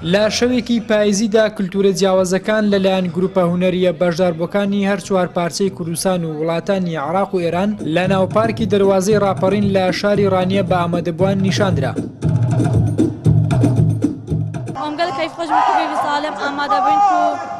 لە شەوێکی پایزیدا کللتوورە جیاوازەکان لەلایەن گروپە هونەریە بەشداربووەکانی هەر چوار پارچەی کوردستان و وڵاتانی عراق و ئێران لە ناوپارکی دەواازەی راپەڕین لە شاری ڕانیە بە ئامادەبووان نیشاندرا. ئەمگەل کەیف خۆش ساالم ئامادەبووین.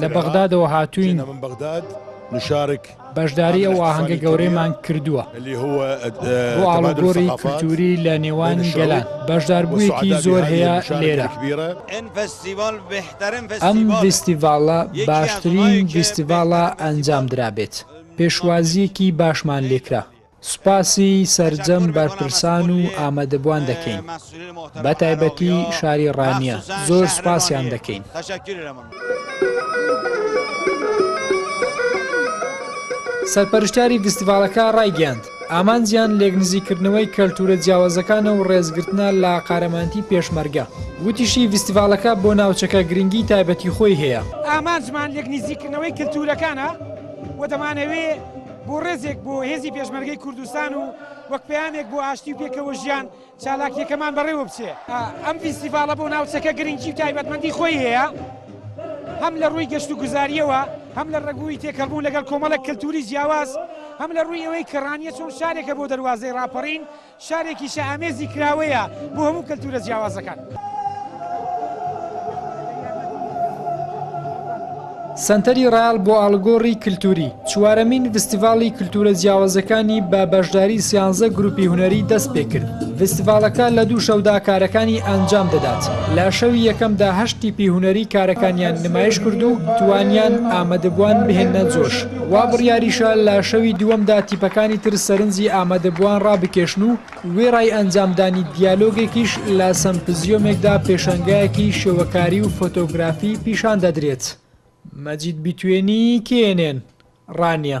لە بەغدادەوە هاتووین بەشداری ئەو ئاهەنگە گەورەیمان کردووە بۆ ئاڵوگۆری کلتوری لە نێوان گەلان بەشداربوویەکی زۆر هەیە لێرە ئەم فستیڤالە باشترین فستیڤالە ئەنجام درابێت پێشوازیەکی باشمان لێکرا سوپاسی سەرجەم بەرپرسان و ئامادەبوان دەکەین بە تایبەتی شاری ڕانیە زۆر سوپاسیان دەکەین. سەرپەرشتیاری فستیڤاڵەکە ڕایگەیاند، ئامانجیان لێکنزیکردنەوەی کەلتوورە جیاوازەکانە و ڕێزگرتنە لە قارەمانتی پێشمەرگە، وتیشی فستیڤاڵەکە بۆ ناوچەکە گرنگی تایبەتی خۆی هەیە، ئامانجمان لێکنزیکردنەوەی کەلتوورەکانە و دەمانەوێ، بۆ ڕێزێک بۆ هێزی پێشمەرگەی کوردستان و وەک پەیامێک بۆ ئاشتی و پێکەوە ژیان چالاکیەکەمان بەڕێوە بچێ ئەم فیستیڤاڵە بۆ ناوچەکە گرنگی و تایبەتمەندی خۆی هەیە هەم لە ڕووی گەشت و گوزاریەوە هەم لە ڕگووی تێکەڵبوون لەگەڵ کۆمەڵە کەلتوری جیاواز هەم لە ڕووی ئەوەی کە ڕانیە چۆن شارێکە بۆ دەواازەی ڕاپەڕین شارێکی شائامێزی کراوەیە بۆ هەموو کەلتوورە جیاوازەکان. سەنتەری ڕایەڵ بۆ ئاڵوگۆڕی کلتووری، چوارەمین ڤستیڤاڵی کلتوورە جیاوازەکانی بە بەشداری سیانزە گرووپی هونەری دەست پێ کرد. ڤستیڤاڵەکە لە دوو شەودا کارەکانی ئەنجام دەدات. لە شەوی یەکەمدا هەشت تیپی هونەری کارەکانیان نمایش کرد و توانیان ئامادەبووان بهێننە جۆش. وا بڕیاریشە لە شەوی دووەمدا تیپەکانی تر سەرنجی ئامادەبووان ڕابکێشن و وێڕای ئەنجامدانی دیالۆگێکیش لە سەمپزیۆمێکدا پێشەنگایەکی شێوەکاری و فۆتۆگرافی پیشان دەدرێت. مەجید بیتوێنی، کێنێن، ڕانیە.